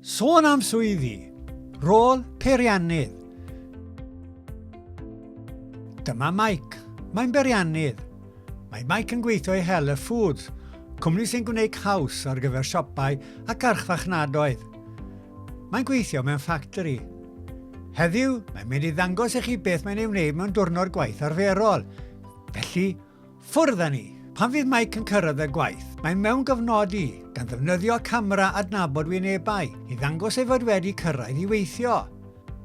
Sôn am swyddi, rôl peiriannydd. Dyma Mike. Mae'n beiriannydd. Mae Mike yn gweithio i Helle Foods, cwmni sy'n gwneud caws ar gyfer siopau ac archfarchnadoedd. Mae'n gweithio mewn ffactori. Heddiw, mae'n mynd i ddangos i chi beth mae'n ei wneud mewn diwrnod gwaith arferol. Felly, Ffwrdd â ni! Pan fydd Mike yn cyrraedd y gwaith, mae'n mewn gofnod i, gan ddefnyddio camera adnabod wynebau i ddangos ei fod wedi cyrraedd i weithio.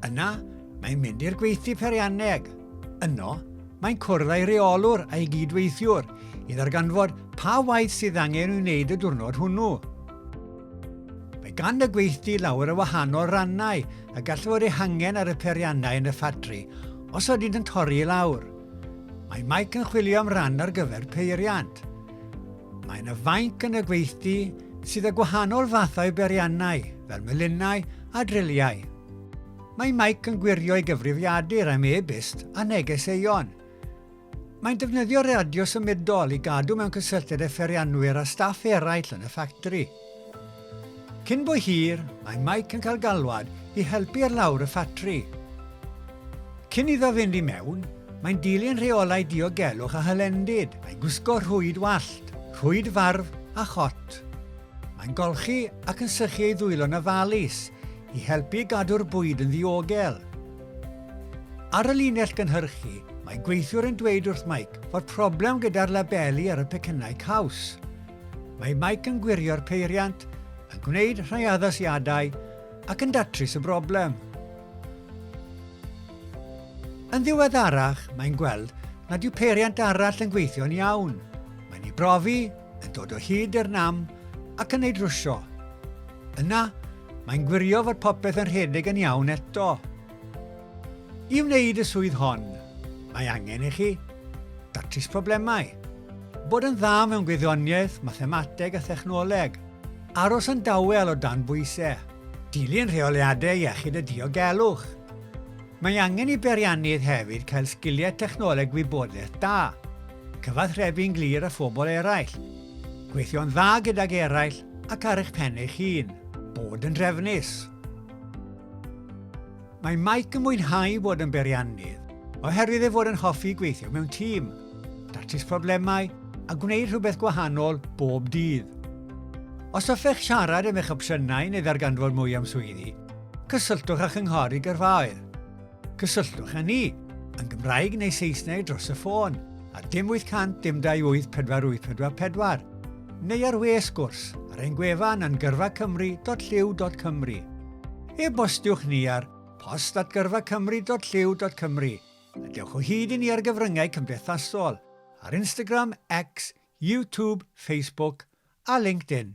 Yna, mae'n mynd i'r gweithdy peirianneg. Yno, mae'n cwrdd â'i reolwr a'i gyd-weithiwr i ddarganfod pa waith sydd angen i'w wneud y diwrnod hwnnw. Mae gan y gweithdy lawer o wahanol rannau a gall fod eu hangen ar y peiriannau yn y ffatri os ydynt yn torri i lawr. Mae Mike yn chwilio am ran ar gyfer peiriant. Mae yna fainc yn y gweithdy sydd â gwahanol fathau beriannau, fel melinnau a driliau. Mae Mike yn gwirio ei gyfrifiadur am e-byst a neges Aeon. Mae'n defnyddio radio symudol i gadw mewn cysylltiad â pherianwyr a staff eraill yn y ffactri. Cyn bo hir, mae Mike yn cael galwad i helpu ar lawr y ffatri. Cyn iddo fynd i mewn, mae'n dilyn rheolau diogelwch a hylendid, mae'n gwisgo rhwyd wallt, rhwyd farf a chot. Mae'n golchi ac yn sychu ei ddwylo 'na falis i helpu gadw'r bwyd yn ddiogel. Ar y linell gynhyrchu, mae gweithiwr yn dweud wrth Mike fod problem gyda'r labeli ar y pecynnau caws. Mae Mike yn gwirio'r peiriant, yn gwneud rhai addasiadau ac yn datrys y broblem. Yn ddiweddarach, mae'n gweld nad yw peiriant arall yn gweithio'n iawn. Mae'n ei brofi, yn dod o hyd i'r nam ac yn ei drwsio. Yna, mae'n gwirio fod popeth yn rhedeg yn iawn eto. I wneud y swydd hon, mae angen i chi, datrys problemau, bod yn dda mewn gwyddoniaeth, mathemateg a thechnoleg, aros yn dawel o dan bwysau, dilyn rheoliadau iechyd a diogelwch. Mae angen i beiriannydd hefyd cael sgiliau technoleg gwybodaeth da, cyfathrebu'n glir â phobl eraill, gweithio'n dda gydag eraill ac ar eich pen eich hun, bod yn drefnus. Mae Mike yn mwynhau bod yn beiriannydd oherwydd ei fod yn hoffi gweithio mewn tîm, datrys problemau a gwneud rhywbeth gwahanol bob dydd. Os hoffech siarad am eich opsiynau neu ddarganfod mwy am swyddi, cysylltwch â Chynghori Gyrfaoedd. Cysylltwch â ni, yn Gymraeg neu Saesneg dros y ffôn, ar dim 800 dim 28 4844, neu ar we sgwrs ar ein gwefan yn gyrfacymru.llyw.cymru. E-bostiwch ni ar post at gyrfacymru.llyw.cymru a dewch o hyd i ni ar gyfryngau cymdeithasol, ar Instagram, X, YouTube, Facebook a LinkedIn.